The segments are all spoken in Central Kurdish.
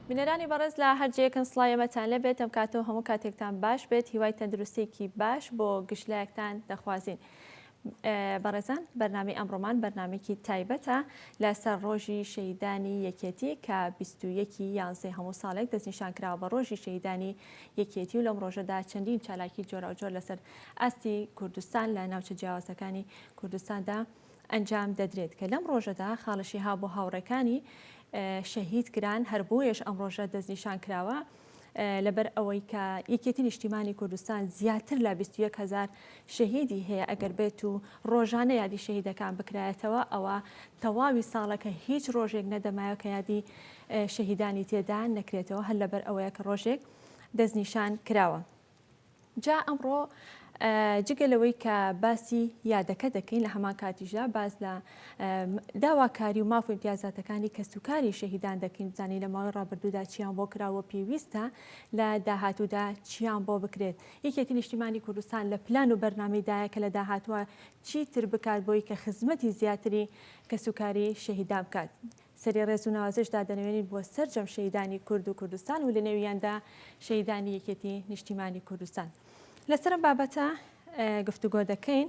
بینەرانی بەڕێز لە هەر جێیەکن سڵاوی ئێمەتان لێبێت ئەم کاتەوە هەموو کاتێکتان باش بێت هیوای تەندروستێکی باش بۆ گشت لایەکتان دەخوازین. بەڕێزان بەرنامی ئەمڕۆمان بەرنمێکی تایبەتە لەسەر ڕۆژی شەیدانی یەکێتی کە 21 یانزەی هەموو ساڵێک دەستنیشان کراوە بە ڕۆژی شەیدانی یەکێتی و لەم ڕۆژەدا چەندین چالاکی جۆراوجۆر لەسەر ئاستی کوردستان لە ناوچە جیاوازەکانی کوردستاندا ئەنجام دەدرێت کە لەم ڕۆژەدا خاڵشی ها بۆ هاوڕێکانی شەهید کران هەر بۆیەش ئەم ڕۆژە دەستنیشان کراوە لەبەر ئەوەی کە یەکێتی نیشتیمانی کوردستان زیاتر لە 21 هزار شەهیدی هەیە ئەگەر بێت و ڕۆژانە یادی شەهیدەکان بکرایەتەوە ئەوە تەواوی ساڵەکە هیچ ڕۆژێک نەدەمایە کە یادی شەهیدانی تێدا نەکرێتەوە هەر لەبەر ئەوەیە کە ڕۆژێک دەستنیشان کراوە جا ئەمڕۆ جگە لەوەی کە باسی یادەکە دەکەین لە هەمان کاتیشدا باز لە داواکاری و ماف و امتیازاتەکانی کەس و کاری شەهیدان دەکەین بزانانی لە ماوەی ڕابردوودا چیان بۆ کراوە پێویستە لە داهاتوودا چیان بۆ بکرێت یەکێتی نیشتیمانی کوردستان لە پلان و بەرنامەیدایە کە لە داهاتوە چیتر بکات بۆی کە خزمەتی زیاتری کەسوکاری شەهیدا بکات. سەری ڕێز و ناوازش دادەنەوێنین بۆ سەرجەم شەهیدانی کورد و کوردستان و لەنێویاندا شەهیدانی یەکێتی نیشتیمانی کوردستان. لەسەر ئەم بابەتە گفتوگۆ دەکەین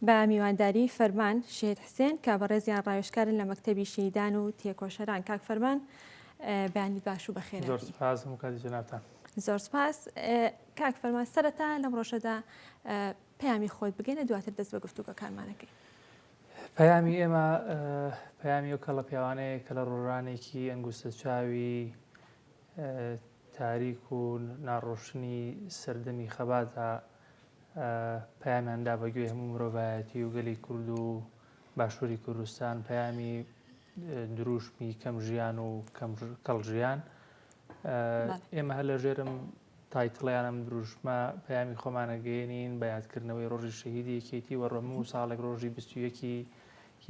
بە میوانداری فەرمان شەهید حسێن کە بەڕێزیان ڕاوێژکارن لە مەکتەبی شەهیدان و تێکۆشەران کاک فەرمان بەیانی باش و بەخێر زۆر سپاس بۆ کاتی جەنابتان زۆر سپاس کاک فەرمان سەرەتا لەم ڕۆژەدا پەیامی خۆت بگەنە دواتر دەست بە گفتوگەکانمانەکەی پەیامی ئێمە پەیامی ئەو کەڵە پیاوانەیە کە لە ڕۆژانێکی ئەنگوستە چاوی تاریک و ناڕۆشنی سەردەمی خەباتە پەیامیاندا بەگوێ هەموو مرۆڤایەتی و گەلی کورد و باشووری کوردستان پەیامی دروشمی کەم ژیان و کەڵ ژیان ئێمە هەر لە ژێرم تایتڵیان ئەم دروشمە، پەیامی خۆمان ئەگەیەنین بە یادکردنەوەی ڕۆژی شەهیدی یەکێتی و ڕەموو ساڵێک ڕۆژی بیست و یەکی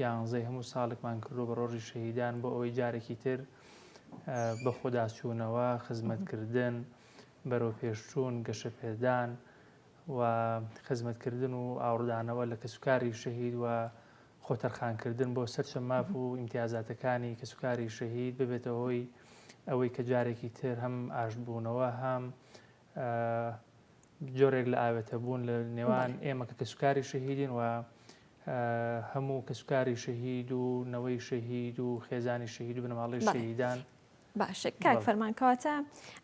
یانزەی هەموو ساڵێکمان کردووە بە ڕۆژی شەهیدان بۆ ئەوەی جارێکی تر بەخۆداچوونەوە، خزمەتکردن، بەرەوپێشچوون، گەشەپێدان و خزمەتکردن و ئاوڕدانەوە لە کەسوکاری شەهید و خۆتەرخانکردن بۆ سەرجەم ماف و ئیمتیازاتەکانی کەسوکاری شەهید ببێتە هۆی ئەوەی کە جارێکی تر هەم ئاشتبوونەوە هەم جۆرێک لە ئاوێتەبوون لە نێوان ئێمە کە کەسوکاری شەهیدین و هەموو کەسوکاری شەهید و نەوەی شەهید و خێزانی شەهید و بنەماڵی شەهیدان باشە کاک فەرمان کەواتە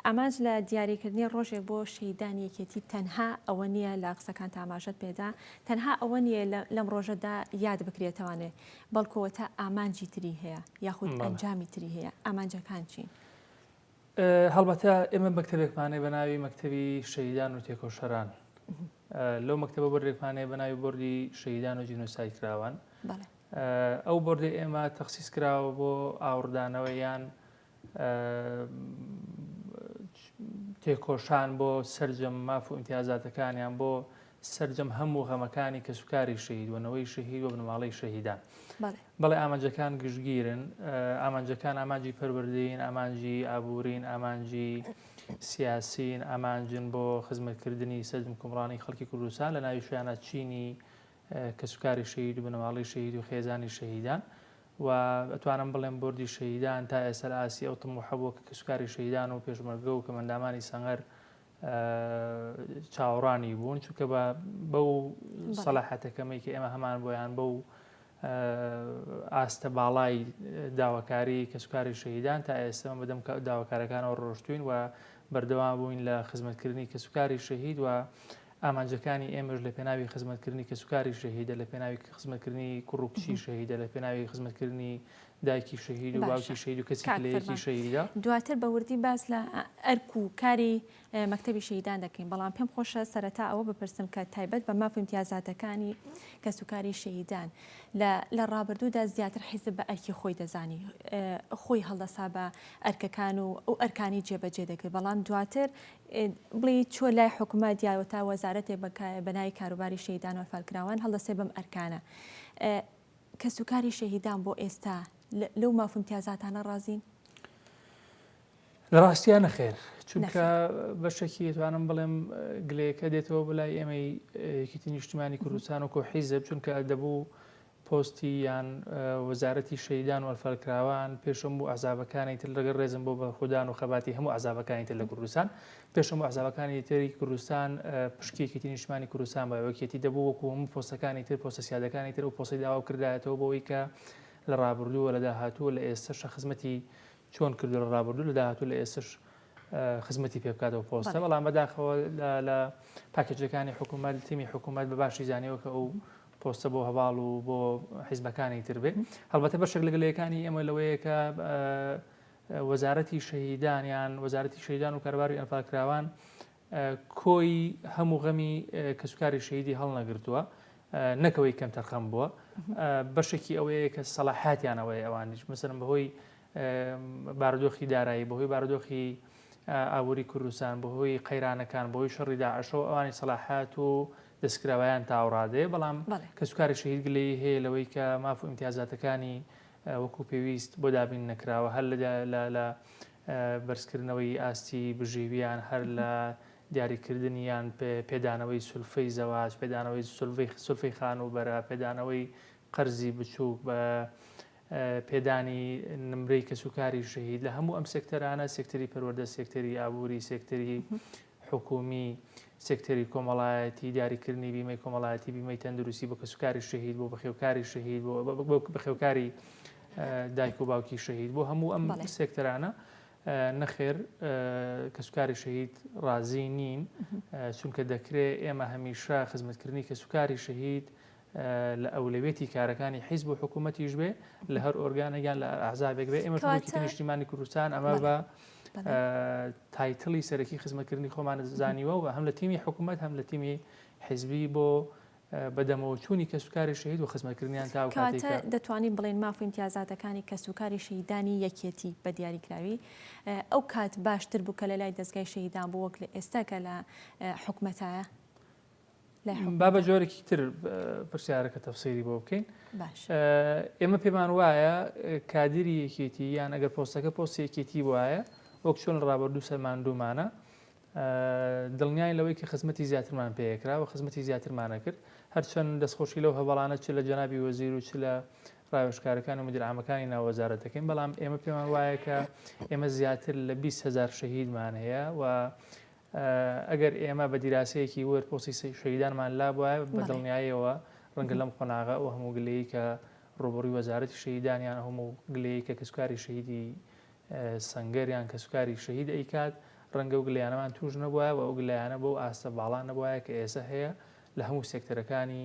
ئامانج لە دیاریکردنی ڕۆژێک بۆ شەیدانی یەکێتی تەنها ئەوە نییە لە قسەکان تاماژەت پێدا تەنها ئەوە نییە لەم ڕۆژەدا یاد بکرێتەوانێ بەڵکەوە تا ئامانجی تری هەیە یاخود ئەنجامی تری هەیە ئامانجەکان چین هەڵبەتە ئێمە مەکتتەبێکمانێ بە ناوی مەکتتەبی شەیدان و تێکۆشەران لەو مەکتتەبە بەرێکمانەیە بە ناوی بردی شەیدان و جینۆسای کراوان ئەو بۆردەی ئێمە تەخسیس کراوە بۆ ئاوڕدانەوە یان تێکۆشان بۆ سرجەم ماف و ئیمتیازاتەکانیان بۆ سرجەم هەموو غەمەکانی کەسوکاری شەهید و نەوەی شەهید و بنەماڵەی شەهیدان بەڵێ ئامانجەکان گشتگیرن ئامانجەکان ئامانجی پەروەردەین ئامانجی ئابوورین ئامانجی سیاسین ئامانجن بۆ خزمەتکردنی سەرجم کومڕانی خەڵکی کوردستان لە ناوی شوێنە چینی کەسوکاری شەهید و بنەماڵەی شەهید و خێزانی شەهیدان و ئەتوانم بڵێم بردی شەهیدان تا ئێسەر ئاسی ئەو تموحە بووە کە کەسوکاری شەهیدان و پێشمەرگە و کەمەندامانی سەنگەر چاوەڕانی بوون چونکە بە بەو سەلاحەتەکەمەی کە ئێمە هەمان بۆیان بەو ئاستە باڵای داواکاری کەسوکاری شەهیدان تا ئێستا بەدەم داواکارەکانەوە ڕۆشتوین و بەردەوام بووین لە خزمەتکردنی کەسوکاری شەهید و ئامانجەکانی ئێمەش لە پێناوی خزمەتکردنی کەسوکاری شەهیدە لە پێناوی خزمەتکردنی کوڕ و کچی شەهیدە لە پێناوی خزمەتکردنی دایکی شەهید و باوکی شەهید و کەسی لەیەکی شەهیدە دواتر بە وردی باس لە ئەرک و کاری مەکتتەبی شەهیدان دەکەین بەڵام پێم خۆشە سەرەتا ئەوە بپرسم کە تایبەت بە ماف امتیازاتەکانی کەسوکاری شەهیدان لە ڕابردوودا زیاتر حیزب بە ئەرکی خۆی دەزانی خۆی هەڵدەسا بە ئەرکەکان و ئەو ئەرکانی جێبەجێ دەکرد بەڵام دواتر بڵی چۆ لای حکومەت یا وتا وەزارەتێ بە بە ناوی کاروباری شەهیدان و ئەنفالکراوان هەڵدەسێ بەم ئەرکانە کەسوکاری شەهیدان بۆ ئێستا لەو مافمتیازاتانە ڕازین لە ڕاستیا نەخێر چونکە بەشێکی توانم بڵێم گلەیەکە دێتەوە بلای ئێمەی یەکیتی نیشتمانی کوردستان و کۆحیزب چونکە دەبوو پۆستی یان وەزارەتی شەهیدان و ئەلفەلکراوان پێش هەموو ئەحزابەکانی تر لەگەڵ ڕێزم بۆ بەرخودان و خەباتی هەموو ئەحزابەکانی تر لە کوردستان پێش هەموو ئەحزابەکانی تری کوردستان پشکی یەکێتی نیشتمانی کوردستان بە یەکێتی دەبوو وەکو هەموو پۆستەکانی تر پۆستە سیادەکانی تر و پۆستی داوا کردایەتەوە بۆ ئەوی کە لە ڕابردوو لە داهاتوو لە ئێستەشە خزمەتی چۆن کردو لە ڕابردوو لە داهاتوو لە ئێستش خزمەتی پێ بکاتەوە پۆستە بەڵام بەداخەوە لە پاکێجەکانی حکوومەت تیمی حکوومەت بە باشی زانیەوە کە ئەو پۆستە بۆ هەڤاڵ و بۆ حیزبەکانی تر بێ هەڵبەتە بەشێک لە گلەیەکانی ئێمە لەوەیە کە وەزارەتی شەهیدان یان وەزارەتی شەیدان و کارباری ئەنفالکراوان کۆی هەموو غەمی کەسوکاری شەیدی هەڵنەگرتووە نەکەوەی کەم تەرخەم بووە بەشێکی ئەوەیە کە سەڵاحاتیانەوەی ئەوانیش مثلم بەهۆی بارودۆخی دارایی، بەهۆی بارودۆخی ئابووری کوردستان، بەهۆی قەیرانەکان، بەهۆی شەڕی داعشەوە ئەوانی سەلاحەت و دەستکراوەیان تاوڕادەیە، بەڵام کەسوکاری شەهید گلەیی هەیە لەوەی کە ماف و ئیمتیازاتەکانی وەکو پێویست بۆ دابین نەکراوە هەر لە بەرزکردنەوەی ئاستی بژێوییان، هەر لە دیاریکردنی یان پێدانەوەی سولفەی زەواج، پێدانەوەی سولفەی خانووبەرە، پێدانەوەی قەرزی بچووک بە پێدانی نمرەی کەسوکاری شەهید لە هەموو ئەم سێکتەرانە سێکتەری پەروەردە سێکتەری ئابووری سێکتەری حکومی سێکتەری کۆمەڵایەتی دیاریکردنی بیمەی کۆمەڵایەتی بیمەی تەندروستی بۆ کەسوکاری شەهید بۆ بەخێوکاری شەهید بۆ بەخێوکاری دایک و باوکی شەهید بۆ هەموو ئەم سێکتەرانە نەخێر کەسوکاری شەهید ڕازی نین چونکە دەکرێت ئێمە هەمیشە خزمەتکردنی کەسوکاری شەهید لە ئەولەویەتی کارەکانی حیزب و حکوومەتیش بێ لە هەر ئۆرگانێک یان لە هەر ئەحزابێک بێ ئێمەش وەکی کەواتە نیشتیمانی کوردستان ئەمە بە بەڵێ بەڵێ ئا، تایتڵی سەرەکی خزمەتکردنی خۆمان زانیوە و هەم لە تیمی حکوومەت هەم لە تیمی حیزبی بۆ ئا، بەدەمەوە چوونی کەسوکاری شەهید و خزمەتکردنیان تا ئەو کاتەی کەواتە کە دەتوانین بڵێین ماف و ئیمتیازاتەکانی کەسوکاری شەهیدانی یەکێتی بە دیاریکراوی ئەو کات باشتر بوو کە لە لای دەزگای شەهیدان بوو وەک لە ئێستا کە لە ئا، حکومەتایە؟ با بە جۆرێکی تر پرسیارەکە تەفسیری بۆ بکەین ئێمە پێمان وایە کادری یەکێتی یان ئەگەر پۆستەکە پۆستی یەکێتی وایە وەک چۆن ڕابردوو سەرمان دوومانە دڵنیای لەوەی کە خزمەتی زیاترمان پێکرا و خزمەتی زیاترمانە کرد هەرچەند دەستخۆشی لەو هەواڵانە چ لە جەنابی وەزیر و چ لە ڕاوێشکارەکان و مدرامەکانی ناوەزارە دەکەین بەڵام ئێمە پێمان وایە کە ئێمە زیاتر لە 20هزار شەهیدمان هەیە و ئەگەر ئێمە بە دیراسەیەکی ورد پرسی شەهیدانمان لابوایە، بە دڵنیاییەوە ڕەنگە لەم قۆناغە ئەو هەموو گلەیەی کە ڕووبەڕووی وەزارەتی شەهیدان یان ئەو هەموو گلەیەی کە کەسوکاری شەهیدی سەنگەر یان کەسوکاری شەهید ئەیکات، ڕەنگە ئەو گلەیانەمان تووش نەبوایە و ئەو گلەیانە بەو ئاستە باڵا نەبوایە کە ئێستا هەیە لە هەموو سێکتەرەکانی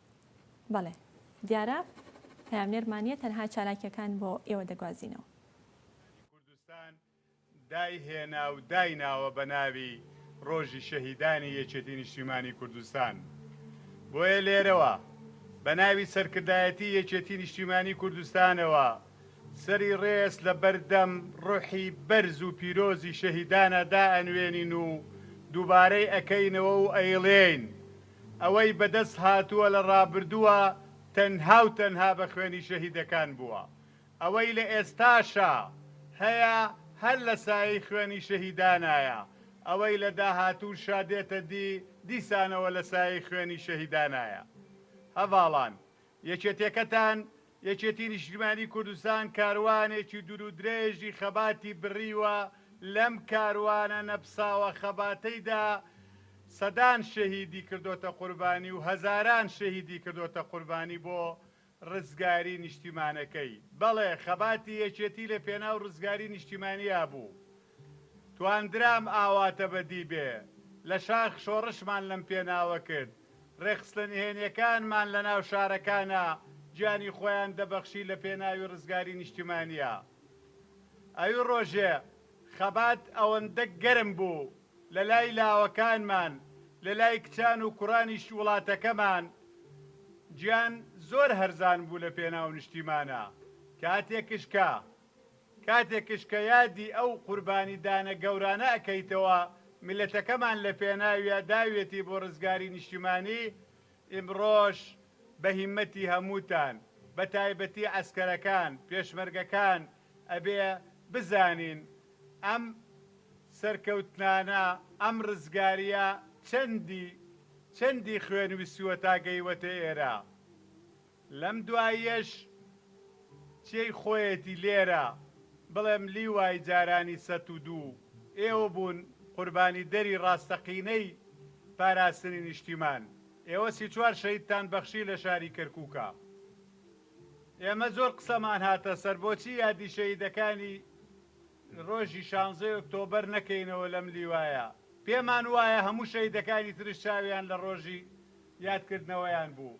بەڵێ دیارە پەیامنێرمان نیە تەنها چالاکیەکان بۆ ئێوە دەگوازینەوە. ژنانی کوردستان دای هێنا و دای ناوە بە ناوی ڕۆژی شەهیدانی یەکێتی نیشتیمانی کوردستان بۆیە لێرەوە بە ناوی سەرکردایەتی یەکێتی نیشتیمانی کوردستانەوە سەری ڕێز لە بەر دەم ڕۆحی بەرز و پیرۆزی شەهیدانە دائەنوێنین و دووبارەی ئەکەینەوە و ئەیڵێین ئەوەی بەدەست هاتووە لە ڕابردووە تەنها و تەنها بە خوێنی شەهیدەکان بووە، ئەوەی لە ئێستاشا هەیە هەر لە سایەی خوێنی شەهیدانایە، ئەوەی لە داهاتووشا دێتە دی دیسانەوە لە سایەی خوێنی شەهیدانایە. هەڤاڵان، یەکێتیەکەتان یەکێتی نیشتیمانی کوردستان کاروانێکی دورودرێژی خەباتی بڕیوە، لەم کاروانە نەپساوە خەباتەیدا سەدان شەهیدی کردۆتە قوربانی و هەزاران شەهیدی کردۆتە قوربانی بۆ ڕزگاری نیشتیمانەکەی، بەڵێ خەباتی یەکێتی لەپێناو ڕزگاری نیشتیمانیا بوو. توانرام ئاواتە بەدی بێ لە شاخ شۆڕشمان لەم پێناوە کرد ڕێکخستە نهێنیەکانمان لە ناو شارەکانا گیانی خۆیان دەبەخشی لە پێناوی ڕزگاری نیشتیمانیا ئەوی ڕۆژێ خەبات ئەوەندە گەرم بوو لە لای لاوەکانمان لە لای کچان و کوڕانیش وڵاتەکەمان گیان زۆر هەرزان بوو لە پێناو نیشتیمانا کاتێکش کە. کاتێکش کە یادی ئەو قوربانی دانە گەورانە ئەکەیتەوە میلەتەکەمان لە پێناویا داویەتی بۆ رزگاری نیشتیمانی ئیمڕۆش بە هیمەتی هەمووتان بە تایبەتی عەسکەرەکان پێشمەرگەکان ئەبێ بزانین ئەم سەرکەوتنانە ئەم رزگاریە چەندی چەندی خوێن ویستووە تا گەیوەتە ئێرە. لەم دواییەش چێی خۆیەتی لێرە بڵێم لیوای جارانی سەت و دوو ئێوە بوون قوربانی دەری ڕاستەقینەی پاراستنی نیشتیمان ئێوە سی چوار شەهیدتان بەخشی لە شاری کەرکوکا ئێمە زۆر قسەمان هاتە سەر بۆچی یادی شەهیدەکانی ڕۆژی شانزەی ئۆکتۆبەر نەکەینەوە لەم لیوایە پێمان وایە هەموو شەهیدەکانی ترش چاویان لە ڕۆژی یادکردنەوەیان بوو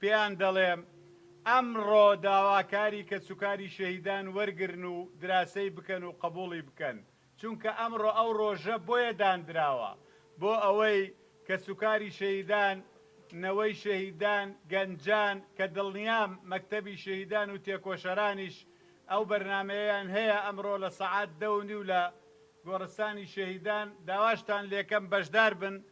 پێیان دەڵێم ئەمڕۆ داواکاری کەسوکاری شەهیدان وەرگرن و دراسەی بکەن و قبوڵی بکەن، چونکە ئەمڕۆ ئەو ڕۆژە بۆیە داندراوە، بۆ ئەوەی کەسوکاری شەهیدان، نەوەی شەهیدان، گەنجان، کە دڵنیام مەکتەبی شەهیدان و تێکۆشەرانیش ئەو بەرنامەیەیان هەیە، ئەمڕۆ لە سەعات دە و نیو لە گۆڕستانی شەهیدان داواشتان لێکەم بەشداربن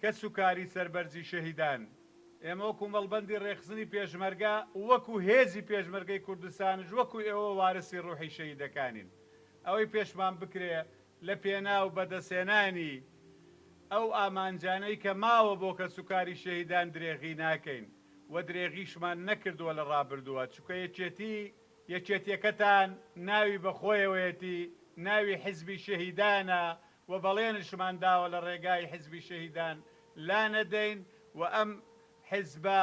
کەس و کاری سەر بەرزی شەهیدان، ئێمە وەکو مەڵبەندی ڕێکخستنی پێشمەرگە و وەکو هێزی پێشمەرگەی کوردستانش وەکو ئێوە وارسی ڕوحی شەهیدەکانین. ئەوەی پێشمان بکرێ لە پێناو بەدەستهێنانی ئەو ئامانجانەی کە ماوە بۆ کەس و کاری شەهیدان درێغی ناکەین و درێغیشمان نەکردووە لە ڕابردووە چونکە یەکێتی یەکێتیەکەتان ناوی بە خۆیەوەیەتی ناوی حزبی شەهیدانە و بەڵێنشمان داوە لە ڕێگای حیزبی شەهیدان لانەدەین و ئەم حیزبە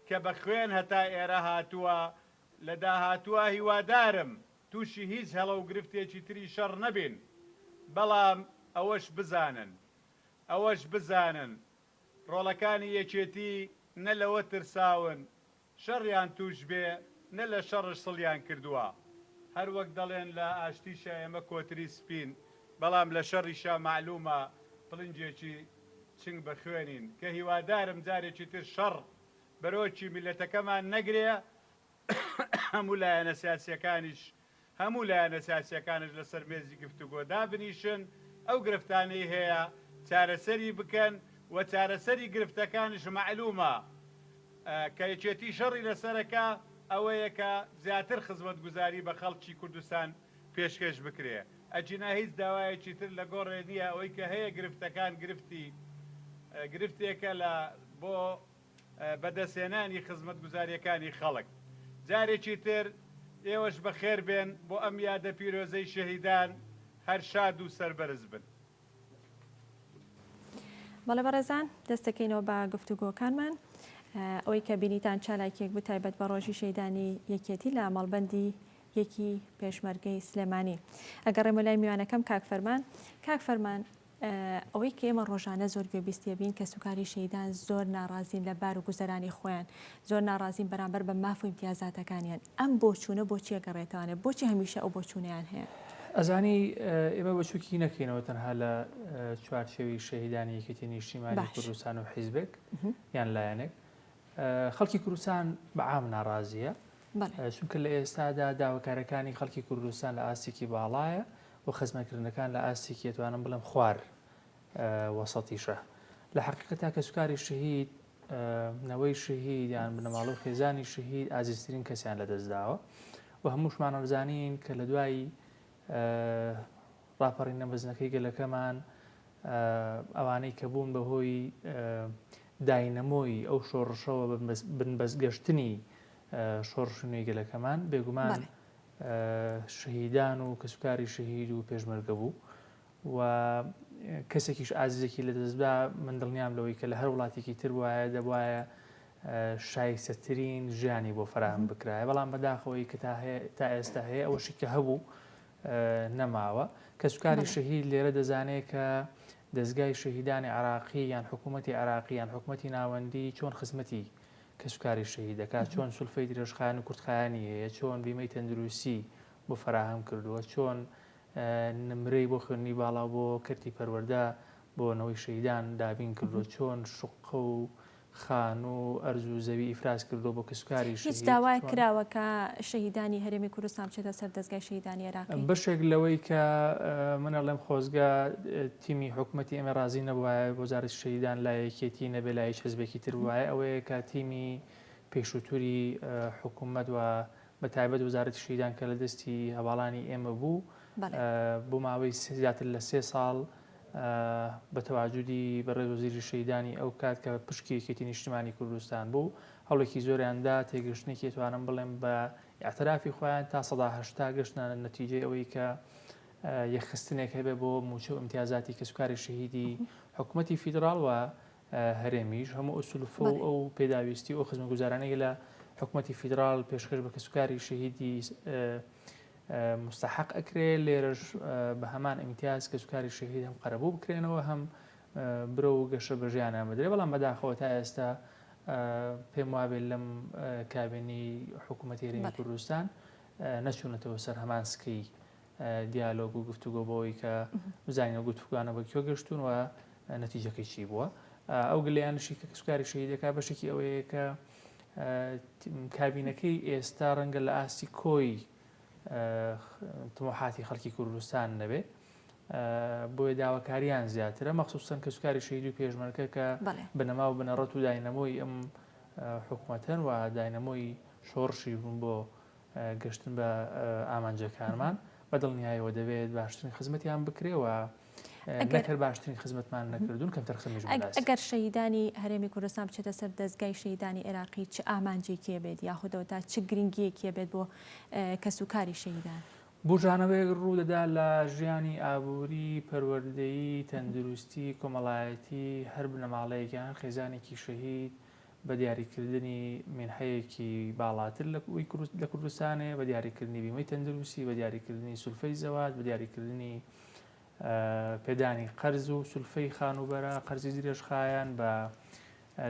کە بە خوێن هەتا ئێرە هاتووە لە داهاتووا هیوادارم تووشی هیچ هەڵە و گرفتێکی تری شەڕ نەبین بەڵام ئەوەش بزانن ئەوەش بزانن ڕۆڵەکانی یەکێتی نە لەوە ترساون شەڕیان تووش بێ نە لە شەڕش سڵیان کردووە هەر وەک دەڵێن لە ئاشتیشا ئێمە کۆتری سپین بەڵام لە شەڕیشا مەعلوومە پڵنجێکی چنگ بە خوێنین کە هیوادارم جارێکی تر شەڕ بەرۆکی میللەتەکەمان نەگرێ هەموو لایەنە سیاسییەکانیش هەموو لایەنە سیاسییەکانش لەسەر مێزی گفتوگۆ دابنیشن، ئەو گرفتانەی هەیە چارەسەری بکەن و چارەسەری گرفتەکانش مەعلوومە کە یەکێتی شەڕی لەسەرەکا ئەوەیە کە زیاتر خزمەتگوزاری بە خەڵکی کوردستان پێشکێش بکرێ ئەگینا هیچ داوایەکی تر لە گۆڕێ نییە ئەوەی کە هەیە گرفتەکان گرفتی گرفتێکە لە بۆ بەدەستهێنانی خزمەتگوزارییەکانی خەڵک. جارێکی تر ئێوەش بەخێربێن بۆ ئەم یادە پیرۆزەی شەهیدان، هەر شاد و سەربەرز بن. بەڵێ بەڕێزان دەست دەکەینەوە بە گفتوگۆکانمان. ئەوەی کە بینیتان چالاکیەک بوو تایبەت بە ڕۆژی شەیدانی یەکێتی لە مەڵبەندی یەکی پێشمەرگەی سلێمانی. ئەگەڕێمە لای میوانەکەم کاک فەرمان. کاک فەرمان ئەوەی کە ئێمە ڕۆژانە زۆر گوێبیستی ئەبین کەسوکاری شەهیدان زۆر ناڕازین لە بار و گوزەرانی خۆیان زۆر ناڕازین بەرامبەر بە ماف و ئیمتیازاتەکانیان ئەم بۆچوونە بۆچی ئەگەڕێتەوانێ بۆچی هەمیشە ئەو بۆچوونەیان هەیە ئەزانی ئێمە بەچووکی نەکەینەوە تەنها لە چوارچێوی شەهیدانی یەکێتی نیشتیمانی کوردستان و حیزبێک یان لایەنێک خەڵکی کوردستان بەعام ناڕازیە چونکە لە ئێستادا داواکارەکانی خەڵکی کوردستان لە ئاستێکی باڵایە و خزمەتکردنەکان لە ئاستێکی ئەتوانم بڵێم خوار وەسەتیشە لە حقیقەتا کەسوکاری شەهید نەوەی شەهید یان بنەماڵە و خێزانی شەهید ئازیزترین کەسیان لەدەستداوە و هەمووشمانەزانین کە لە دوایی ڕاپەڕینە مەزنەکەی گەلەکەمان ئەوانەی کە بوون بەهۆی داینەمۆی ئەو شۆڕشەوە بنبەستگەشتنی شۆڕشنوی گەلەکەمان بێگومان شەهیدان و کەسوکاری شەهید و پێشمەرگە بوو و کەسێکیش ئازیزێکی لەدەستبا، من دڵنیام لەوەی کە لە هەر وڵاتێکی تر بوایە دەبوایە شایستەترین ژیانی بۆ فەراهەم بکرایە، بەڵام بەداخەوەی کە تا ئێستا هەیە ئەوەشی کە هەبوو نەماوە، کەسوکاری شەهید لێرە دەزانێت کە دەزگای شەهیدانی عراقی یان حکوومەتی عراقی یان حکوومەتی ناوەندی چۆن خزمەتی کەسوکاری شەهی دەکات چۆن سولفەی درێژخایەن و کورتخایانی هەیە چۆن بیمەی تەندروستی بۆ فراهەم کردووە چۆن نمرەی بۆ خوێندنی باڵا و بۆ کەرتی پەروەردە بۆ نەوەی شەهیدان دابین کردووە، چۆن شوققە و خانوو و ئەرز و زەوی ئیفراز کردووە بۆ کەسوکاری شەهید، هیچ داوایەک کراوە کە شەهیدانی هەرێمی کوردستان بچێتە سەر دەزگای شەهیدانی عێراقی؟ بەشێک لەوەی کە من ئەڵێم خۆزگە تیمی حکومەتی ئێمە ڕازی نەبوایە وەزارەتی شەهیدان لای یەکێتی نەبێ لای هیچ حزبێکی تر بوایە ئەوەیە کە تیمی پێشووتری حکومەت و بە تایبەت وەزارەتی شەهیدان کە لە دەستی هەڤاڵانی ئێمە بوو بۆ ماوەی زیاتر لە سێ ساڵ بە تەواجودی بەڕێز وەزیری شەیدانی ئەو کات کە پشکی یەکێتی نیشتمانی کوردستان بوو هەڵێکی زۆریاندا تێگەشتنێکی توانم بڵێم بە ئاعترافی خۆیان تا سەداهشتا گەشتنانە نەتیجەی ئەوەی کە یەخستنێک هەبێ بۆ موچە و امتیازاتی کەسوکاری شەهیدی حکوومەتتی فیدراڵوە هەرێمیش هەموو ئەو سلوفە و ئەو پێداویستی و خزمەگوزارانەی لە حکوومەتتی فیدراال پێشکەش بە کەسوکاری شەهیدی مستحق ئەکرێ لێرەش بە هەمان ئیمتیاز کەسوکاری شەهید هەم قەرەبوو بکرێنەوە هەم برە و گەشە بەژیان ئەمەدرێ بەڵام بەداخەوە تا ئێستا پێم وابێت لەم کابێنی حکوومەتێری کوردستان نەچوونەتەوە سەر هەمان سکەی دیالۆگ و گفتوگۆ بۆوەی کە بزانین ئەو گفتوگۆانە بە کوێ گەشتوون و نەتیجەکەی چی بووە ئەو گلیانشی کە کەسکاری شەهیدەکە بەشێکی ئەوەیە کە کابینەکەی ئێستا ڕەنگە لە ئاستی کۆی تمۆحاتی خەڵکی کوردستان نەبێ بۆیە داواکاریان زیاترە مەخصوصن کە سوکاری شەید و پێشمەرکە کە بنەما و بنەڕەت و داینەمۆی ئەم حکوومەتەن و داینەمۆی شۆڕشی بوون بۆ گەشتن بە ئامانجەکانمان بە دڵنیایەوە دەبێت باشترین خزمەتیان بکرێ و نەک هەر باشترین خزمەتمان نەکردوون کەمتر خزمەتیش بۆ ناس. ئەگەر شەهیدانی هەرێمی کوردستان بچێتە سەر دەزگای شەهیدانی عێراقی چ ئامانجێکی هەبێت یاخودەوە تا چ گرنگییەکی هەبێت بۆ کەسوکاری شەهیدان؟ بووژانەوەیەک ڕوو دەدا لە ژیانی ئابووری، پەروەردەیی، تەندروستی، کۆمەڵایەتی هەر بنەماڵەیەک یان هەر خێزانێکی شەهید بە دیاریکردنی مینحەیەکی باڵاتر لە کوردستانێ، بە دیاریکردنی بیمەی تەندروسی، بە دیاریکردنی سولفەی زەواج، بە دیاریکردنی پێدانی قەرز و سولفەی خانوبەرە قەرزی درێژخایەن بە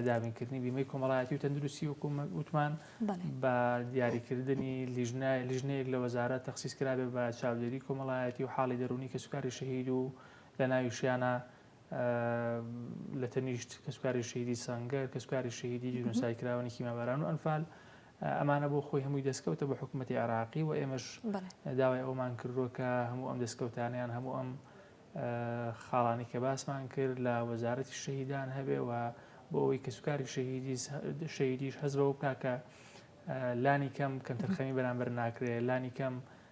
دابینکردنی بیمەی کۆمەڵایەتی و تەندروستی وکومەوتمان بە دیاریکردنی لیژنەیەک لە وەزارە تەخصیص کرابێ بە چاودێری کۆمەڵایەتی و حاڵی دەرونی کە سوکاری شەهید و لە ناویشیانە لە تەنیشت کەسوکاری شەهیدی سەنگەر، کەسوکاری شەهیدی جینۆساید کراوانی کیما باران و ئەنفال، ئەمانە بۆ خۆی هەمووی دەستکەوتە بۆ حکوومەتی عێراقی و ئێمەش داوای ئەومان کردووە کە هەموو ئەم دەستکەوتانیان هەموو ئەم خاڵانی کە باسمان کرد لە وەزارەتی شەهیدان هەبێ و بۆ ئەوەی کەسوکاری شەهیدی شەهیدیش هەز بەوە بکە کە لانی کەم کەمتەرخەمی بەرامبەر ناکرێت لانی کەم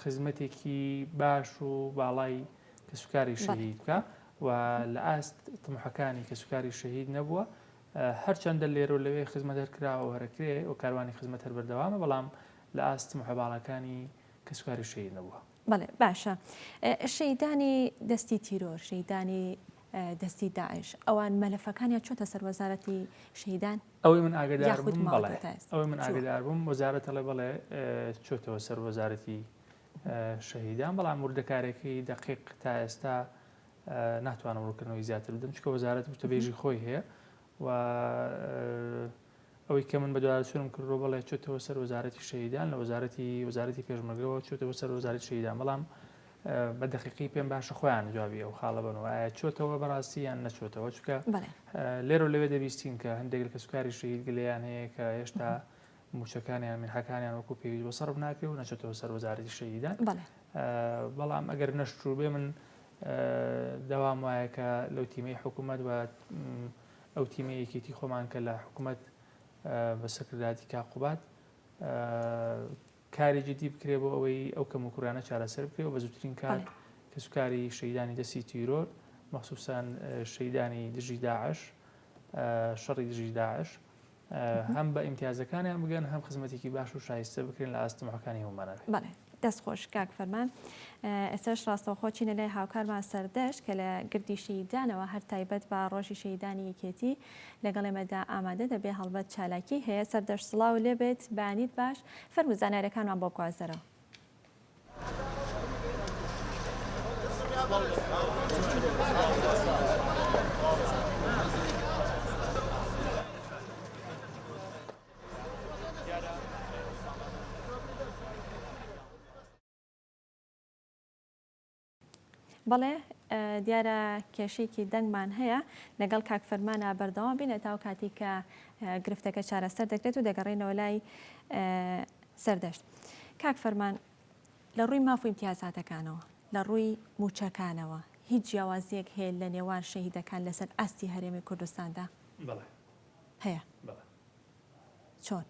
خزمەتێکی باش و باڵای کەسوکاری شەهید بکە و لە ئاست تمحەکانی کەسوکاری شەهید نەبووە هەرچەندە لێرە و لەوێ خزمەت هەرکراوە هەرکرێ و کاروانی خزمەت هەر بەردەوامە بەڵام لە ئاست محەباڵەکانی کەسوکاری شەهید نەبووە بەڵێ باشە شەیدانی دەستی تیرۆر شەیدانی دەستی داعش ئەوان مەلەفەکانیان چۆتە سەر وەزارەتی شەیدان؟ ئەوەی من ئاگدار بووم بەڵێ ئەوەی من ئاگدار بووم وەزارەت ئەڵێ بەڵێ چۆتەوە سەر وەزارەتی شەهیدان بەڵام وردەکارێکی دقیق تا ئێستا ناتوانم ڕووکردنەوەی زیاتر بدەم چکە وەزارەت وتەبێژی خۆی هەیە و ئەوەی کە من بەدوارچوونم کردو بەڵێ چۆتەوە سەر وەزارەتی شەهیدان لە وەزارەتی وەزارەتی پێشمەگەوە چۆتەوە سەر وەزاری شەهیدان بەڵام بە دەقیقی پێم باشە خۆیان جوابی ئەو خاڵە بنەوە ئایا چۆتەوە بەڕاستی یان نەچۆتەوە چکە لێرە لەوێ دەبیستین کە هەندێک لە کەسوکاری شەهید گلیان هەیە کە هێشتا موچەکانیان من حەکانیان وەکو پێوی بۆ سەرف ناکرێ و نەچێتەوە سەر وەزارەتی شەهیدان بەڵام ئەگەر نەشتوو بێ من داوام وایە کە لەو تیمەی حکوومەت و ئەو تیمە یەکێتی خۆمان کە لە حکوومەت بە سەکرداتی کاقوبات کاری جدی بکرێت بۆ ئەوەی ئەو کەموکوڕیانە چارەسەر بکرێت و بە زووترین کات کەسوکاری شەهیدانی دەستی تیرۆر مەخسوسەن شەهیدانی دژی داعش شەڕی دژی داعش هەم بە ئیمتیازەکانیان بگەن هەم خزمەتێکی باش و شایستە بکرێن لە ئاستمەکانی هەمانە دەست خۆش کاک فەرمان ئێسش ڕاستەوخۆ چینە لای هاوکارمان سەردەشت کە لە گردیشی دانەوە هەر تایبەت بە ڕۆژی شەیدانی یەکێتی لەگەڵ ئێمەدا ئامادە دەبێ هەڵبەت چالاکی هەیە سەردەشت سڵاو لێبێت بەیانیت باش فەرمو زانارەکانمان بۆ بگوازەرەوە. بەڵێ دیارە کێشەیەکی دەنگمان هەیە لەگەڵ کاک فەرمانە بەردەوام بین ئەتاو کاتی کە گرفتەکە چارەسەر دەکرێت و دەگەڕێنەوە لای سەردەشت کاک فەرمان لە ڕووی ماف و امتیازاتەکانەوە لە ڕووی موچەکانەوە هیچ جیاوازیەک هەیە لە نێوان شەهیدەکان لەسەر ئاستی هەرێمی کوردستاندا هەیە چۆن؟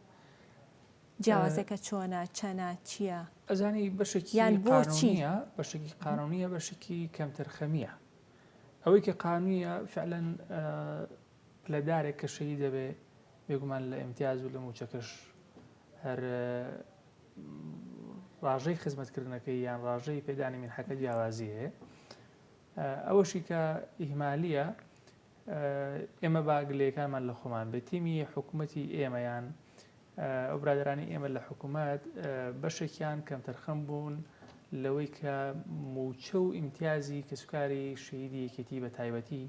جیاوازیەکە چۆنە؟ چەنە؟ چیە؟ ئەزانی بەشێکی قانونیە بەشێکی قانونیە بەشێکی کەمتەرخەمیە ئەوەی کە قانونیە فعلەن پلەدارێک کە شەهی دەبێ بێگومان لە ئەمتیاز و لە موچەکەش هەر ڕاژەی خزمەتکردنەکەی یان ڕاژەی پێدانی من حەکە جیاوازی هەیە ئەوەشی کە ئیهمالیە ئێمە با گلەیەکانمان لە خۆمان بێت تیمی حکومەتی ئێمە یان ئەو برادرانی ئێمە لە حکومەت بەشێکیان کەمتەرخەم بوون لەوەی کە موچە و ئیمتیازی کەسوکاری شەیدی یەکێتی بە تایبەتی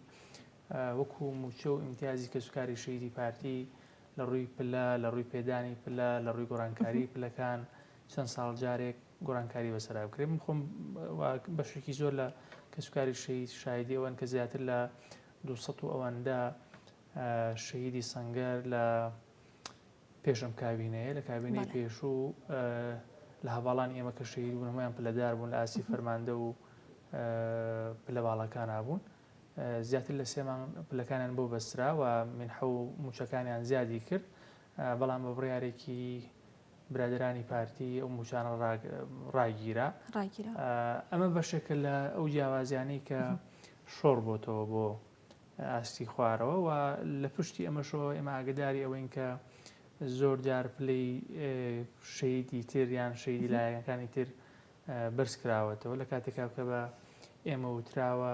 وەکو موچە و ئیمتیازی کەسوکاری شەیدی پارتی لە ڕووی پلە لە ڕووی پێدانی پلە لە ڕووی گۆڕانکاری پلەکان چەند ساڵ جارێک گۆڕانکاری بەسەرا بکرێت من خۆم و بەشێکی زۆر لە کەسوکاری شەهید شایدی ئەوەن کە زیاتر لە دوو سەد و ئەوەندە شەهیدی سەنگەر لە پێشم کابینەیە لە کابینەی پێشوو لە هەواڵانی ئێمە کە شەهید بوون هەمویان پلەدار بوون لە ئاسی فەرماندە و پلە باڵەکان نبوون زیاتر لە سێمان پلەکانیان بۆ بەسترا و منحە و موچەکانیان زیادی کرد بەڵام بە بڕارێکی برادەرانی پارتی ئەو موچانە ڕاگیرا ئەمە بەشێکە لە ئەو جیاوازیانەی کە شۆڕ بۆتەوە بۆ ئاستی خوارەوە و لە پشتی ئەمەشەوە ئێمە ئاگداری ئەوەین کە زۆر جار پلەی شەیدی تر یان شەیدی لایەنەکانی تر بەرز کراوەتەوە لە کاتێکا کە بە ئێمە وتراوە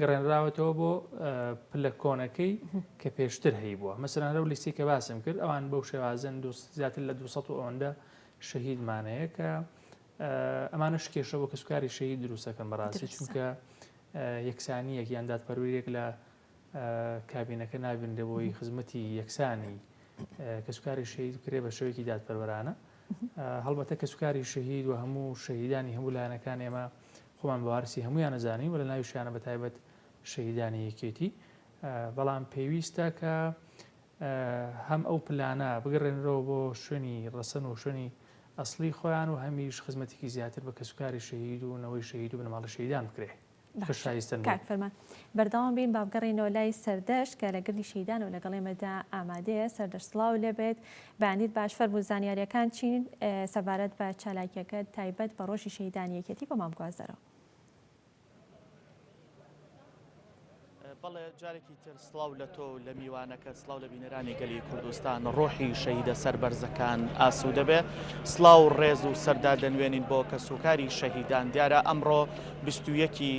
گەڕێنراوەتەوە بۆ پلە کۆنەکەی کە پێشتر هەیبووە مەسەلەن لەو لیستی کە باسم کرد ئەوان بەو شێوازن زیاتر لە 200 و ئەوەندە شەهیدمانەیە کە ئەمانش کێشە بۆ کەسکاری شەهید دروستەکەم بەڕاستی چونکە یەکسانیەک یان دادپەرویرێک لە کابینەکە نابینرێ بۆی خزمەتی یەکسانی کەسکاری شەهید کرێ بە شوێکی دادپەروەرانە هەڵبەتە کەسکاری شەهید و هەموو شەهیدانی هەموو لایەنەکان ئێمە خۆمان بەوارسی هەموویان ئەزانین و لەناویشیانە بەتایبەت شەهیدانی یەکێتی بەڵام پێویستە کە هەم ئەو پلانە بگەڕێنرەوە بۆ شوێنی ڕەسەن و شوێنی ئەسلی خۆیان و هەمیش خزمەتێکی زیاتر بە کەسوکاری شەهید و نەوەی شەهید و بنەماڵە شەهیدان بکرێ فەرمان بەردەوام بین بابگەڕینەوە لای سەردەشت کە لە گردی شەیدان و لەگەڵێمەدا ئامادەیە سەردەشت سڵاو لێبێت بەیانیت باش فەرموو زانیاریەکان چین سەبارەت بە چالاکیەکەت تایبەت بە ڕۆژی شەهیدانی یەکێتی بۆ مام گوازەرەوە. بەڵێ جارێکی تر سلااو لە تۆ لە میوانەکە سلااو لە بینەرانی گەلی کوردستان ڕۆحی شەیدە سەربەرزەکان ئاسو دەبێ سلااو ڕێز و سەردا دەنوێنین بۆ کە سوکاری شەهیدان دیارە ئەمڕۆ بیستویەکی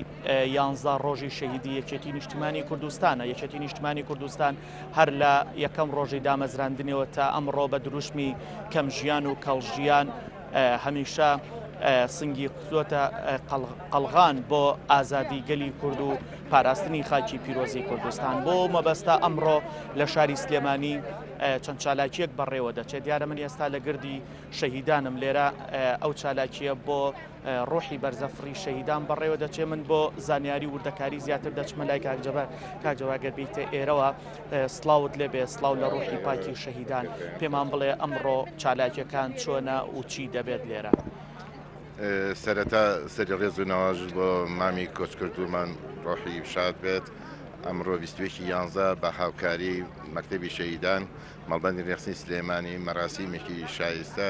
یانزا ڕۆژی شەهیدی یەکێتی نیشتمانی کوردستانە یەکێتی نیشتمانی کوردستان هەر لە یەکەم ڕۆژی دامەزراندنیەوە تا ئەمڕۆ بە دروشمی کەم ژیان و کەڵ ژیان هەمیشە سنگی قوتوەتە قەلغان بۆ ئازادی گەلی کورد و پاراستنی خاکی پیرۆزی کوردستان بۆ مەبەستا ئەمڕۆ لە شاری سلێمانی چەند چالاکیەک بەڕێوە دەچێت دیارە من ئێستا لە گردی شەهیدانم لێرە ئەو چالاکیە بۆ ڕۆحی بەرزەفڕی شەهیدان بەڕێوە دەچێ من بۆ زانیاری وردەکاری زیاتر دەچمە لای کاک جەبار کاک جەبار گەر بیتە ئێرەوە سڵاوت لێ بێ سڵاو لە ڕۆحی پاکی و شەهیدان پێمان بڵێ ئەمڕۆ چالاکیەکان چۆنە و چی دەبێت لێرە سەرەتا سەری ڕێز و ناواژت بۆ مامی کۆچکردومان ڕۆحی شاد بێت ئەمڕۆ 21 یانزە بە هاوکاری مەکتتەبی شەیدان مەڵبندی ڕێخستی سلێمانی مەراسیمێکی شایستە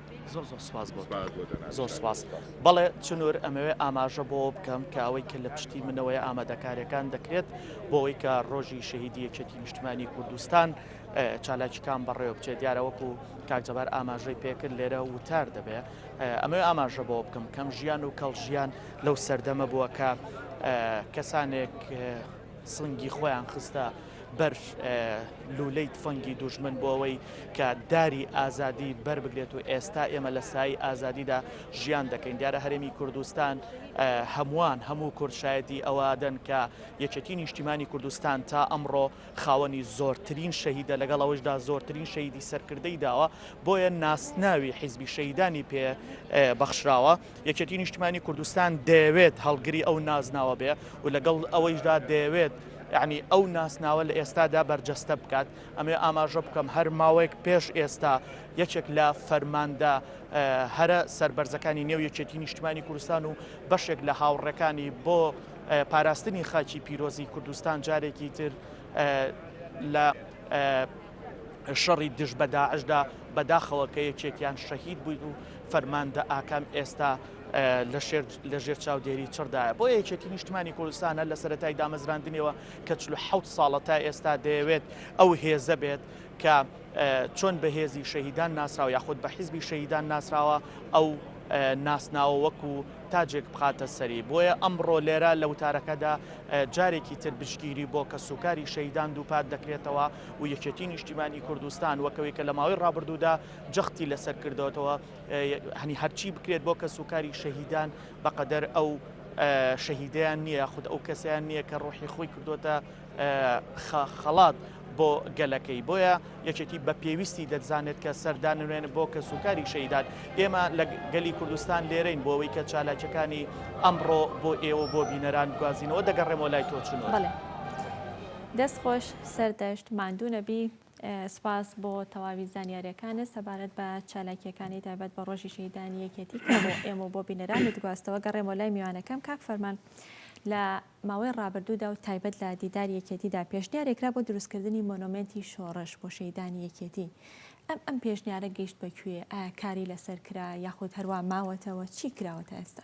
زۆر زۆر سپاس بۆ سپاس بۆ جەنابت زۆر سپاس بەڵێ چنور ئەمەوێ ئاماژە بۆ بکەم کە ئەوەی کە لە پشتی منەوەی ئامادەکاریەکان دەکرێت بۆەوەی کە ڕۆژی شەهیدی یەکێتی نیشتمانی کوردستان چالاکیکان بەڕێوە بچێت دیارە وەکو کاکجەبار ئاماژەی پێکرد لێرە وتار دەبێ ئەمەوێ ئاماژە بۆ بکەم کەم ژیان و کەڵ ژیان لەو سەردەمە بووە کە کەسانێک سنگی خۆیان خستە بەر لوولەی تفەنگی دوژمن بۆ ئەوەی کە داری ئازادی بەربگرێت و ئێستا ئێمە لە سایی ئازادیدا ژیان دەکەین دیارە هەرێمی کوردستان هەمووان هەموو کوردشایەتی ئەوادەن کە یەکێتی نیشتیمانی کوردستان تا ئەمڕۆ خاوەنی زۆرترین شەهیدە لەگەڵ ئەوەشدا زۆرترین شەیدی سەرکردەی داوە بۆیە ناسناوی حیزبی شەیدانی پێ بەخشراوە. یەکێتی نیشتمانی کوردستان دەیەوێت هەڵگری ئەو نازناوە بێ و لەگەڵ ئەوەیشدا دەیەوێت ینی ئەو ناسناوە لە ئێستادا بەرجەستە بکات ئەمێ ئاماژە بکەم هەر ماوەیەک پێش ئێستا یەکێک لە فەرماندە هەرە سربەرزەکانی نێو یەکێتی نیشتمانی کوردستان و بەشێک لە هاوڕەکانی بۆ پاراستنی خاچی پیرۆزی کوردستان جارێکی تر لە شەڕی دژ بە داعشدا بەداخەوە کە یەکێکیان شەهید بووین و فەرماندە ئاکام ئێستا لە ژێر چاودێری چڕدایە بۆ یەکێتی نیشتمانی کوردستانە لە سەتای دامەزراندنیەوە کە چلو حوت ساڵە تا ئێستا دەیەوێت ئەو هێزە بێت کە چۆن بە هێزی شەهیدان ناسراوە یاخود بە حیزبی شەهیدان ناسراوە ئەو ناسناوە وەکو تاجێک بخاتە سەری بۆیە ئەمڕۆ لێرە لە وتارەکەدا جارێکی تر بشگیری بۆ کە سوکاری شەیدان دووپات دەکرێتەوە و یەکێتی نیشتیمانی کوردستان وەکەوەی کە لە ماوەی ڕابردوودا جەختی لەسەر کردەوەتەوە هەنی هەرچی بکرێت بۆ کە سوکاری شەهیدان بەقەدەر ئەو شەهیدیان نییە خود ئەو کەسیان نییە کە ڕۆحی خۆی کردوتە خەڵات بۆ گەلەکەی بۆیە یەکێتی بە پێویستی دەزانێت کە سەردانوێن بۆ کە سوکاری شەیداد ئێمە لە گەلی کوردستان لێرەین بۆەوەی کە چالاکەکانی ئەمڕۆ بۆ ئێوە بۆ بینەران گوازینەوە دەگەڕێمەوە لای تۆچنەوە. دەست خۆش سەردەشت ماندوو نەبی. سپاس بۆ تەواوی زانیاریەکانت سەبارەت بە چالاکیەکانی تایبەت بە ڕۆژی شەهیدانی یەکێتی کە بۆ ئێمە و بۆ بینەرانت گواستەوە گەڕێمەوە لای میوانەکەم کاک فەرمان لە ماوەی ڕابردوودا و تایبەت لە دیداری یەکێتیدا پێشنیارێکرا بۆ دروستکردنی مۆنۆمێنتی شۆڕش بۆ شەهیدانی یەکێتی ئەم ئەم پێشنیارە گەیشت بە کوێ ئایا کاری لەسەر کرا یاخود هەروا ماوەتەوە چی کراوە تا ئێستا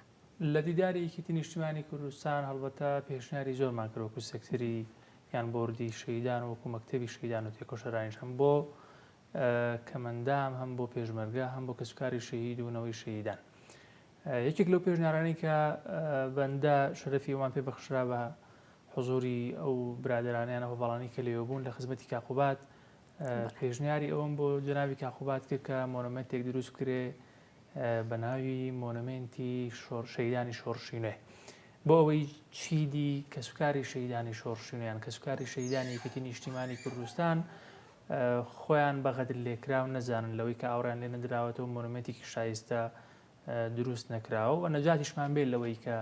لە دیداری یەکێتی نیشتیمانی کوردستان هەڵبەتە پێشنیاری زۆرمان کرد وەکو سێکتەری یان بۆردی شەهیدان و وەکو مەکتەبی شەهیدان و تێکۆشەرانیش هەم بۆ کەمەندام هەم بۆ پێشمەرگە هەم بۆ کەسوکاری شەهید و نەوەی شەهیدان یەکێک لەو پێشنیارانی کە بەندە شەرەفی ئەوان پێ بەخشرا بە حزوری ئەو برادرانیان ئەو بەڵانی کە لێوە بوون لە خزمەتی کاقوبات پێشنیاری ئەوم بۆ جناوی کاقوبات کرد کە مۆنمنتێک دروست کرێ بە ناوی مۆنۆمێنتی شۆر شەیدانی شۆڕشی نوێ بۆ ئەوەی چیدی کەسوکاری شەیدانی شۆڕشی نوێیان کەسوکاری شەیدانی یەکێتی نیشتیمانی کوردستان خۆیان بە غەدر لێکراو نەزانن لەوەی کە ئاوڕیان لێ نەدراوەتەوە مۆنومێتێکی شایستە دروست نەکراوە و نەجاتیشمان بێت لەوەی کە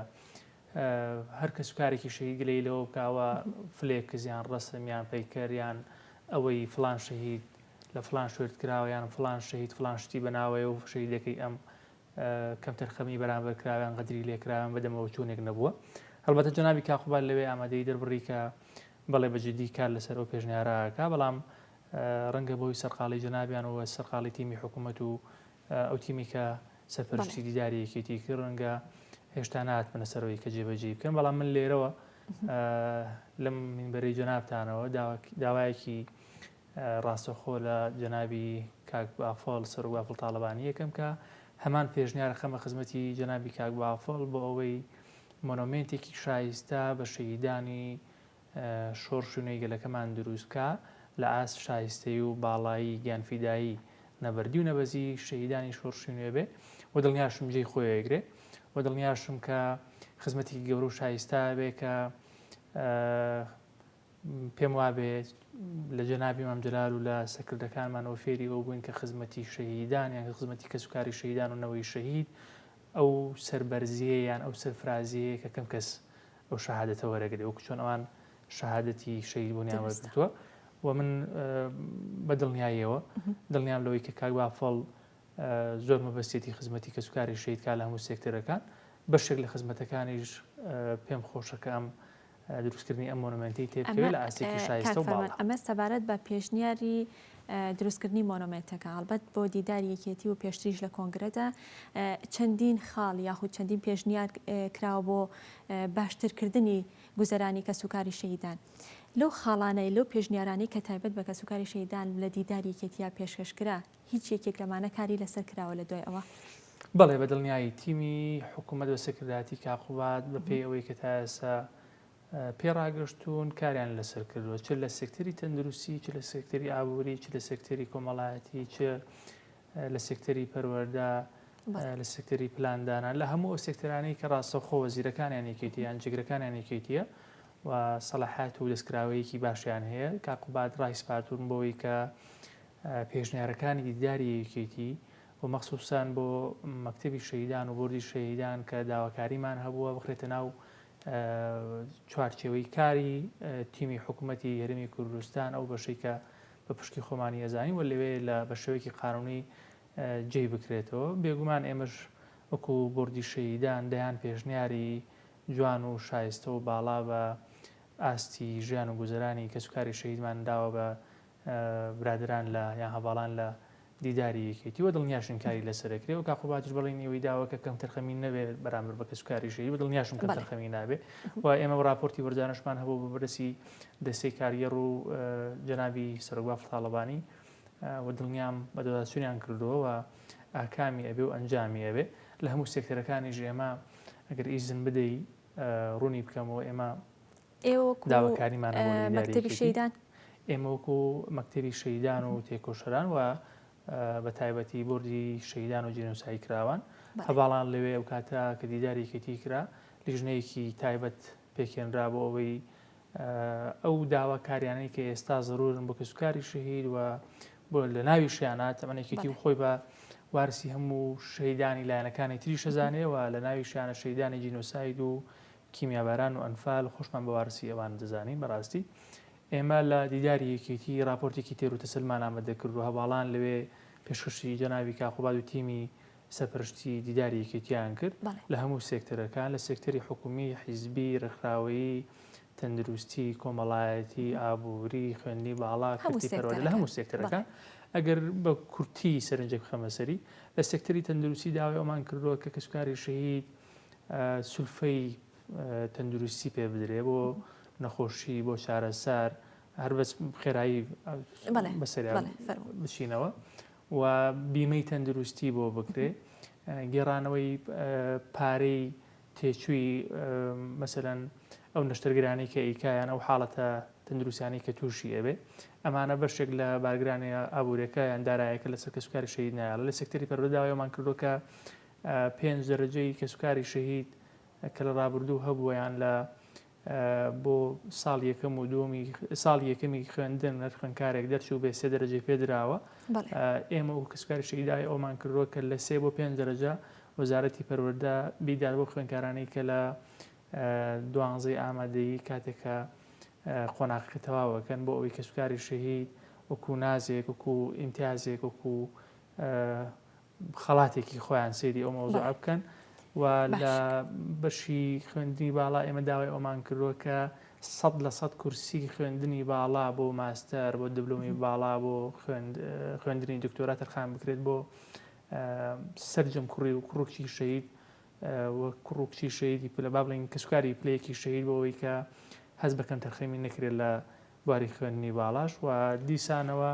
هەر کەسوکارێکی شەهید گلەیی لەوە بکا ئەوە فلێکس یان ڕەسم یان پەیکەر یان ئەوەی فلان شەهید لە فلان شوێرت کراوە یان فلان شەهید فلان شتی بەناوەیە و شەهیدەکەی ئەم کەمتەرخەمی بەرامبەر کراویان غەدری لێکراویان بەدەمەوە چوونێک نەبووە هەڵبەتە جەنابی کاقوبال لەوێ ئامادەی دەربڕی کە بەڵێ بە جددی کار لەسەر ئەو پێشنیارەکە بەڵام ڕەنگە بۆی سەرقاڵی جەنابیان و سەرقاڵی تیمی حکوومەت و ئەو تیمەی کە سەرپەرشتی دیداری یەکێتی کرد ڕەنگە هێشتا ناتمنە سەرەوەی کە جێبەجێی بکەن بەڵام من لێرەوە لەم منبەری جەنابتانەوە داوایەکی ڕاستەخۆ لە جەنابی کاک بافڵ سەر و بافڵ تاالبانی یەکەم کە هەمان پێشنیار خەمە خزمەتی جەنابی کاک بافڵ بۆ ئەوەی مۆنۆمنتێکی شایستە بە شەیدانی شۆڕش و نوێی گەلەکەمان دروست بکا لە ئاست شایستەیی و باڵایی گیانفیدایی نەبەردی و نەبەزی شەهیدانی شۆڕشی نوێ بێ و دڵنیاشم جێی خۆی ئەگرێ و دڵنیاشم کە خزمەتێکی گەورە و شایستا بێ کە پێم وابێ لە جەنابی مام جلال و لە سەکردەکانمان ئەو فێری ئەو بووین کە خزمەتی شەهیدان یان خزمەتی کەسوکاری شەهیدان و نەوەی شەهید ئەو سەربەرزییە یان ئەو سەرفرازییەیە کە کەم کەس ئەو شەهادەتە وەرەگرێ وەکو چۆن ئەوان شەهادەتی شەهید بوونیان وەرگرتووە و من بە دڵنیاییەوە دڵنیام لەوەی کە کاک بافڵ زۆر مەبەستێتی خزمەتی کەسوکاری شەیدکار لە هەموو سێکتەرەکان بەشێک لە خزمەتەکانیش پێم خۆشەکە ئەم دروستکردنی ئەم مۆنۆمێنتەی تێبکەوێت لە ئاستێکی شایستە و باڵا. کاک فەرمان، ئەمە سەبارەت بە پێشنیاری دروستکردنی مۆنۆمێنتەکە، هەڵبەت بۆ دیداری یەکێتی و پێشتریش لە کۆنگرەدا چەندین خاڵ یاخود چەندین پێشنیار کراوە بۆ باشترکردنی گوزەرانی کەسوکاری شەهیدان. لەو خاڵانەی، لەو پێشنیارانەی کە تایبەت بە کەسوکاری شەهیدان لە دیداری یەکێتییە پێشکەشکرا، هیچ یەکێک لەمانە کاری لەسەر کراوە لە دوای ئەوە؟ بەڵێ بە دڵنیایی، تیمی حکوومەت بە سەرکردایەتی کاک قوباد بە پێی ئەوەی کە تا ئێستا پێ ڕاگەشتوون کاریان لەسەر کردووە چ لە سێکتەری تەندروستی چ لە سێکتەری ئابووری چ لە سێکتەری کۆمەڵایەتی چ لە سێکتەری پەروەەردە لە سێکتەری پلاندانان لە هەموو ئەو سێکتەرانەی کە ڕاستەخۆ وەزیرەکانیان یەکێتی یان جگرەکانیان یەکێتیە و سەلاحات و دەستکراوەیەکی باشیان هەیە کاقوبات ڕایسپاتون بۆەوەی کە پێشنیارەکانی دیداری یەکێتی و مەخسوسەن بۆ مەکتەبی شەهیدان و بۆردی شەهیدان کە داواکاریمان هەبووە بخرێتە ناو چوارچێوەی کاری تیمی حکوومەتی هەرمی کوردستان ئەو بەشەی کە بە پشکی خۆمانی ئەزانی و لەوێ لە بە شێوەیەکی قانونی جێی بکرێتەوە بێگومان ئێمەش وەکو بردی شەیدان دەیان پێشنیاری جوان و شایستە و باڵا بە ئاستی ژیان و گوزرانی کەسوکاری شەیدمان داوە بە برادەران لە یان هەڤاڵان لە دیداری یەکێتی وە دڵنیاشن کاری لەسەر دەکرێ و کاخۆ باتش بەڵێنی ئەوەی داوە کە کەم تەرخەمی نەبێ بەرامبەر بە کەسوکاری ژێری و دڵنیاشم کەم تەرخەمی نابێ و ئێمە ڕاپۆرتی وەرجانشمان هەبوو بە بەرسی دەستەی کارگەڕ و جەنابی سەرۆک بافڵ تاڵەبانی و دڵنیام بە دۆداسوریان کردووە و ئاکامی ئەبێ و ئەنجامی ئەبێ لە هەموو سێکتەرەکانیش ئێمە ئەگەر ئیزن بدەی ڕوونی بکەمەوە ئێمە داواکاریمان بۆ مەکتەبی شەیدان ئێمە وەکو مەکتەبی شەیدان و تێکۆشەران و بە تایبەتی بردی شەیدان و جینۆسایی کراوان هەواڵان لەوێ ئەو کاتە کە دیدارێکێتی کرا لیژنەیەکی تایبەت پێکێنرا بۆ ئەوەی ئەو داواکاریانەی کە ئێستا زرورن بۆ کەسوکاری شەهید و بۆ لە ناوی شیانە تەمەێکێتی و خۆی بە وارسی هەموو شەیدانی لایەنەکانی تری شەزانەوە لە ناوی شانە شەیدانی جینۆساید و کیمیاباران و ئەنفال خۆشمان بە وارسی ئەوان دەزانین بەڕاستی ئێمە لە دیداری یەکێتی ڕاپۆرتێکی تێر و تەسەلمان ئامەدە کرد و هەڤاڵان لەوێ پێشکەشی جەنابی کاک قوباد و تیمی سەرپەرشتی دیداری یەکێتیان کرد بەڵێ لە هەموو سێکتەرەکان لە سێکتەری حکومی، حیزبی، ڕێکخراوەیی، تەندروستی، کۆمەڵایەتی، ئابووری، خوێندنی باڵا، هەموو کەرتی پەروەردە لە سێکتەرەکان هەموو بەڵێ سێکتەرەکان ئەگەر بە کورتی سەرنجێک بخەمە سەری لە سێکتەری تەندروستی داوای ئەومان کردووە کە کەسوکاری شەهید سولفەی تەندروستی پێ بدرێ بۆ نەخۆشی بۆ چارەسەر هەر بەس خێرایی بەسەری بچینەوە و بیمەی تەندروستی بۆ بکرێ گێڕانەوەی پارەی تێچووی مەسەەن ئەو نەشتەرگرانی کە ئیکایان ئەو حاڵەتە تەندروسیانی کە تووشی ئەبێ ئەمانە بەشێک لە بارگرانی ئابوورەکە یان دارایەکە لەسەر کەسوکاری شەید نایڵ لە سەکتری پەرۆداوایمان کردوکە پێنج دەرەجەی کەسوکاری شەهید کە لە ڕابردوو هەبوویان لە بۆ ساڵ یەکەم و دووەمی ساڵ یەکەمی خوێندن هەر خوێندکارێک دەرچوو بێ سێ دەرەجەی پێدراوە ئێمە و کەسکاری شەیدای ئەومان کردووە کە لە سێ بۆ پێنج دەرەجە وەزارەتی پەروەەردە بیدار بۆ خوێندکارانی کە لە دوانزەی ئامادەیی کاتێکە قۆناقەکە تەواوەکەن بۆ ئەوەی کەسکاری شەهید وەکو نازێک وەکو ئیمتیازێک وەکو خەڵاتێکی خۆیان سەیری ئەو مەوزوعە بکەن و لە بەشی خوێندنی باڵا ئێمە داوای ئەومان کردووە کە سەد لە سەد کورسی خوێندنی باڵا بۆ ماستەر بۆ دبلومی باڵا بۆ خوێندنی دکتۆرا تەرخان بکرێت بۆ سرجم کوڕی و کوڕکی شەید و کوڕکچی شەیدی پلە با بڵین کەسکاری پلەیەکی شەید بۆەوەی کە هەز بەکەم تەرخەمی نەکرێت لە بواری خوێندنی باڵاش و دیسانەوە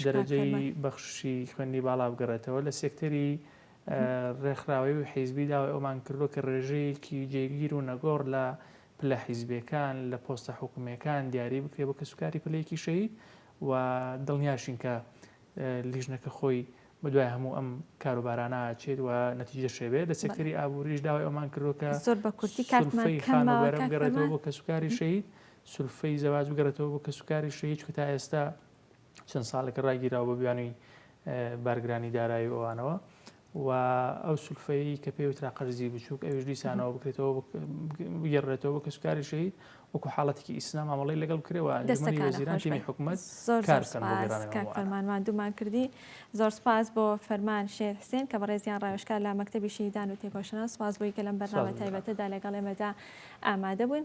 دەرەجەی بەخششی خوێندنی باڵا بگەڕێتەوە لە سێکتەری ڕێکخراوەیی و حیزبی داوای ئەومان کردووە کە ڕێژەیەکی جێگیر و نەگۆڕ لە پلە حیزبیەکان لە پۆستە حکومیەکان دیاری بکرێت بۆ کەسوکاری پلە یەکی شەهید و دڵنیاشین کە لیژنەکە خۆی بەدوای هەموو ئەم کاروبارانە ئاچێت و نەتیجەش هەبێت، لە سێکتەری ئابووریش داوای ئەوەمان کردووە کە زۆر بە کورتی کاتمان سولفەی کەمە خانووبەرە کاک بگەڕێتەوە پەیمان. بۆ کەسوکاری شەهید، سولفەی زەواج بگەڕێتەوە بۆ کەسوکاری شەهید، چونکە تا ئێستا چەند ساڵێکە ڕاگیراوە بە بیانووی اه، بارگرانی دارایی و ئەوانەوە، و ئەو سولفەیەی کە پێی وترا قەرزی بچووک ئەویش دیسانەوە بکرێتەوە بگێڕێتەوە بە کەسوکاری شەهید وەکو حاڵەتێکی ئیسنا مامەڵەی لەگەڵ بکرێەوە ئەنجومەنی وەزیران تیمی حکومەت زۆر کار بکەن بۆ گەڕانی مامۆ عەلا. فەرمان ماندوومان کردی زۆر سپاس بۆ فەرمان شێت حسێن کە بەڕێزیان ڕاوێژکار لە مەکتەبی شەهیدان و تێکۆشەران سپاس بۆی کە لەم بەرنامە تایبەتەدا لەگەڵ ئێمەدا ئامادە بوون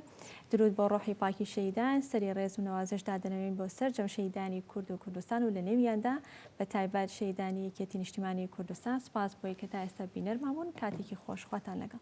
درود بۆ ڕۆحی پاکی شەهیدان سەری ڕێز و نەوازش دادەنەوێین بۆ سەرجەم شەهیدانی کورد و کوردستان و لە نێویاندا بە تایبەت شەهیدانی یەکێتی نیشتیمانی کوردستان سوپاس بۆی کە تا ئێستا بینەرمان بوون کاتێکی خۆش خواتان لەگەڵ.